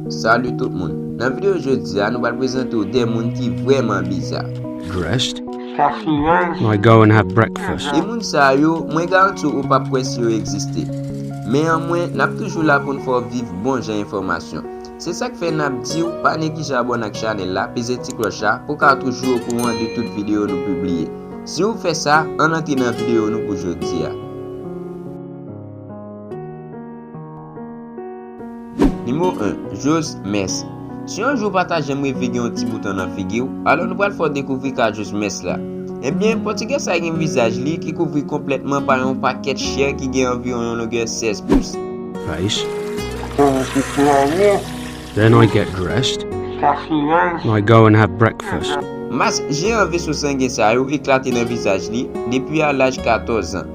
Salut tout moun Nan video jodi a nou pral prezante w 2 moun ki vrèman biza. Dressed? When I go and have breakfast. E moun sa yo, mwen garanti w ou pap kwè si yo egziste. Men an mwen, nap toujou la pou n fè w viv bon jan enfòmasyon. Se sak fè nap diw pa neglije abone ak chanel la peze ti klòch la pou ka toujou okouran de tout video nou pibliye si ou fè sa ann antre nan video nou pou jodia. Nimewo 1, Jose Mess Si yon jou ou pa ta janm reve gen yon ti bouton nan figi w, alò nou pral fè w dekouvri ka Jose Mess la. Ebyen, Pòtigè sa gen vizaj li ki kouvri konplètman pa yon pakèt chè ki gen anviwon yon longè 16 pous. Face. Komanse kleren. Then I get dressed. Kachiraj. I go and have breakfast. Mas je an veso sangen sa yo eklate nan vizaj li depi a laj 14 zan.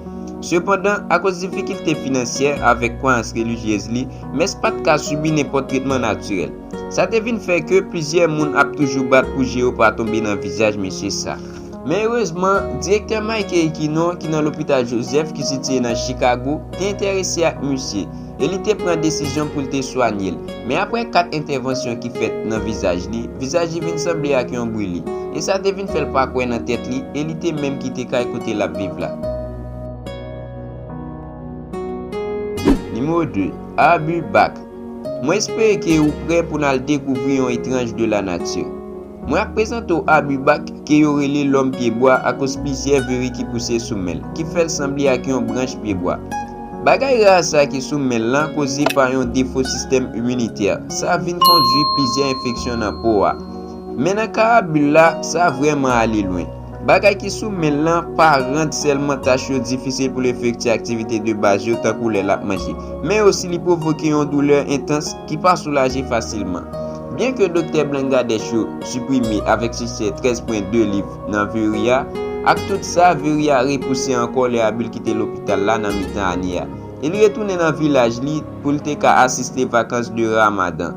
Sepandan, akoz difikilte finansyè avèk kwayans relijyez li, Mas pa t ka sibi nenpòt tretman natirèl. Sa te vin fè ke plizyè moun ap toujou bat pou je yo pa tonbe nan vizaj mesye sa. Men erezman, direktè Mike Eikino ki nan Lopital Joseph ki sitiye nan Chikago te enterese ak misye e li te pran desizyon pou l te swanye l. Men apre 4 entèvansyon ki fèt nan vizaj li, vizaj li vin sanble ak yon brili, e sa te vin fè l pa kwè nan tèt li e li te menm kite kay kote l ap viv la. Nimewo 2, Abu Bakr Mwen espere ke ou prè pou n al dekouvri yon etranj de lanati. Mwen ap prezante w Abu Bakr, ke yo rele Lòm Pye Bwa akoz plizyè viri ki pouse sou men l, ki fè l sanble ak yon branch pye bwa. Bagay ra sa ki sou men l lan koze pa yon defo sistèm iminitè. Sa vin kondwi plizyè enfeksyon nan po a. Men nan ka Abu la, sa vrèman ale lwen. Bagay ki sou men l lan pa rann sèlman tach yo difisil pou l efekti aktivite de baz yo tankou lè l ap manje, men osi li pwovoke yon doulè entans ki pa soulaje fasilman. Byenke doktè Blangadèch yo siprime avèk siksè 13 pwen de liv nan Veri a, ak tout sa, Veri a repouse ankò lè Abil kite lopital la nan mitan ane a e li retounen nan vilaj li pou l te ka asiste vakans de Ramadan.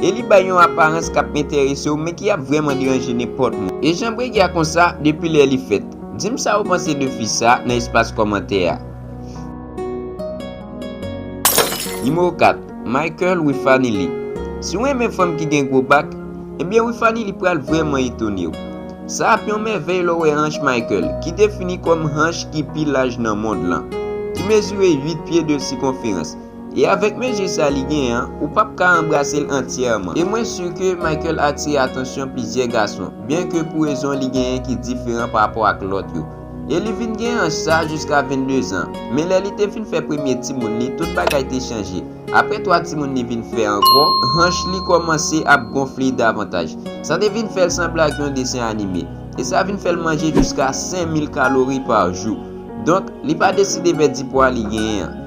e li bay yon aparans k ap enterese w men ki ap vrèman deranje nenpòt moun. E jan Bregi a konsa depi lè li fèt? Di m sa ou panse de fi sa nan espas kòmantè a. Nimewo 4, Michael Wifanilly Si w renmen fanm ki gen gwo bak, ebyen Wifanilly pral vrèman etone w. Sa ap yon mèvèy lè w wè hanch Michael, ki defini kòm hanch ki pi laj nan mond lan, ki mezire 8 pye 2 sikonferans. E avèk mezi sa li gen an, ou pap ka anbrase l antyèman. E mwen si ke Michael atire atansyon plizyè gason, byen ke pou rezon li genyen ki diferan pa rapò ak lòt yo. E li vin gen anj sa jiska 22 zan. Men lè li te fin fè premye timoun li, tout bagay te chanje. Aprè 3 timoun li vin fè ankò, hanch li kòmanse ap gonfle davantaj. Sa te vin fè l sanble ak yon desen anime. E sa vin fè l manje jiska 5000 kalori pa jou. Donk, li pa deside pèdi pwa li genyen an.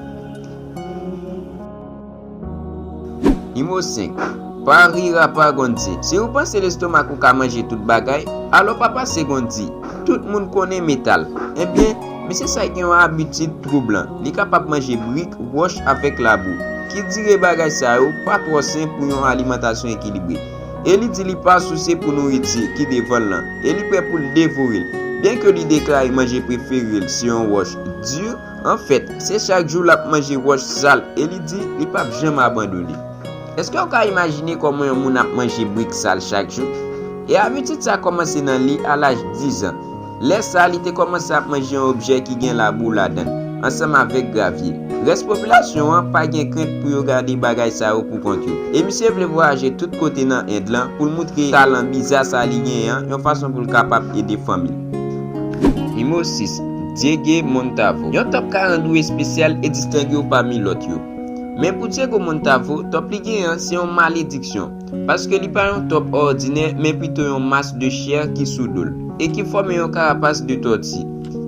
Nimewo 5, Pa rir a pa Gondi. Si ou panse lestomak ou ka manje tout bagay, alò pa pase Gondi. Tout moun konnen metal. Ebyen, mesye sa gen yon abitid twoublan. Li kapab manje brik, wòch avèk labou. Ki dire bagay sa yo pa twò sen pou yon alimantasyon ekilibre. E li di li pa souse pou nouriti ki devan l lan. E li prè pou l devore l. Byenke li deklare manje prefere l se yon wòch di. Anfèt, se chak jou l ap manje wòch sal e li di li pap janm abandone. Èske w ka imajine kòman yon moun ap manje brik sal chak jou? E abitid sa kòmanse nan li a laj dizan. Lè sa a, li te kòmanse ap manje yon objè ki gen labou ladan l, ansanm avèk gravye. Rès popilasyon an pa gen krent pou yo gade bagay sa yo poukont yo. E misye vle vwayaje tout kote nan End lan pou l moutre talan biza sa li genyen an yon fason pou l kapab ede fanmi l. Nimewo 6, Diégue Montavo Yon top 40 ou espesyal e distenge w pami lòt yo. Men pou Diégue Montavo, top li genyen an se yon malediksyon, paske li pa yon top òdinè men pito yon mas de chè ki sou do l e ki fòme yon karapas de tòti.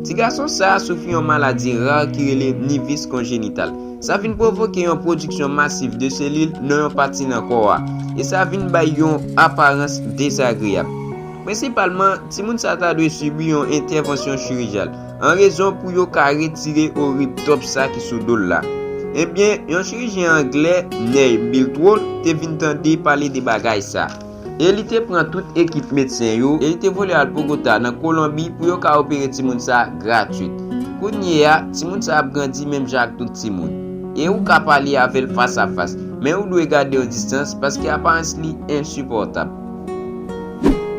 Ti gason sa a soufri yon maladi rare ki rele Nivis Konjenital. Sa vin pwovoke yon pwodiksyon masif de selil nan yon pati nan kò a, e sa vin bay yon aparans dezagreyab. Prensipalman, timoun sa ta dwe sibi yon entèvansyon chirijal, an rezon pou yo ka retire orib tòp sa ki sou do l la. Ebyen, yon chirijyen anglè, Ney Biltwood, te vin tande pale de bagay sa. E li te pran tout ekip medsen yo, e li te vole al Bogota, nan Kolonbi, pou yo ka opere timoun sa gratwit. Kounyeya, timoun sa ap grandi menm jan ak tout timoun. E ou ka pale avè l fas a fas, men ou dwe gade yon distans, paske aparans li ensipòtab.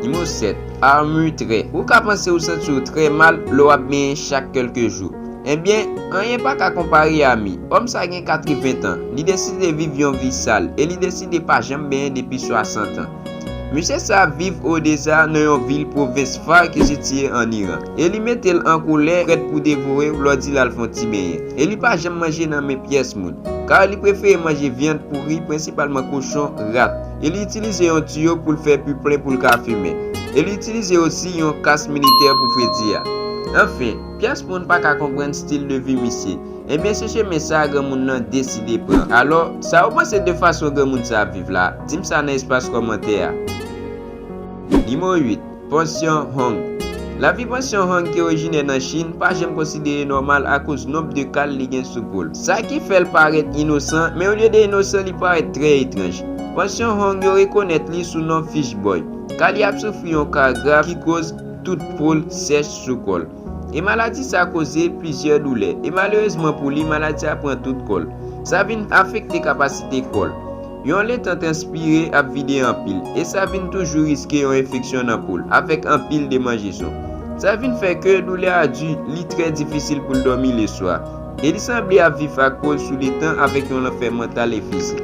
Nimewo 7, Armure Trè Ou ka panse ou santi w trè mal lè w ap benyen chak kèlke jou. Enben, anyen pa ka konpare a mi. Òm sa gen 80 tan, li deside viv yon vi sal e li deside pa janm benyen depi 60 an. Mesye sa a viv Odesa nan yon vil pwovens Far ki sitiye ann Iran e li mete l an kolè prèt pou devore w lè w di l al fè yon ti benyen. E li pa janm manje nan men pyès moun, kar li prefere manje vyann pouri, prensipalman kochon, rat. e li itilize yon tiyo pou l fè pi plen pou l ka fimen, e li itilize osi yon kas militè pou fredi a. Anfen, pyès moun pa ka konprann stil de vi misye. Ebyen se chemen sa a granmoun nan deside pran. Alò, sa ou panse de fason granmoun sa a ap viv la? Di m sa nan espas kòmantè a. Nimewo 8. Pansyon Hong. Lavi pansyon Hong ki orijinè nan Chin pa janm konsidere nòmal akoz nonb de kal li gen sou po l. Sa ki fè l parèt inosan, men olye de inosan li parèt trè etranj. Pansyon Hong yo rekonèt li sou non Fish Boy, ka li ap soufri yon ka grav ki koz tout po l sèch sou kò l. E maladi sa koze plizyè doulè. E malerezman pou li, maladi sa pran tout kò l. Sa vin afekte kapasite kò l. Yon letan transpire ap vide anpil. E sa vin toujou riske yon enfeksyon nan po l, avèk anpil demanjeson. Sa vin fè ke doulè a di, li trè difisil pou l dòmi leswa. E li sanble ap viv ak po l sou letan avèk yon lanfè mantal e fizik.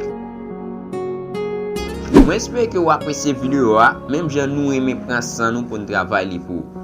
Mwen espere ke ou apresye video a, menm jan nou renmen pran san nou pou n travay li pou ou.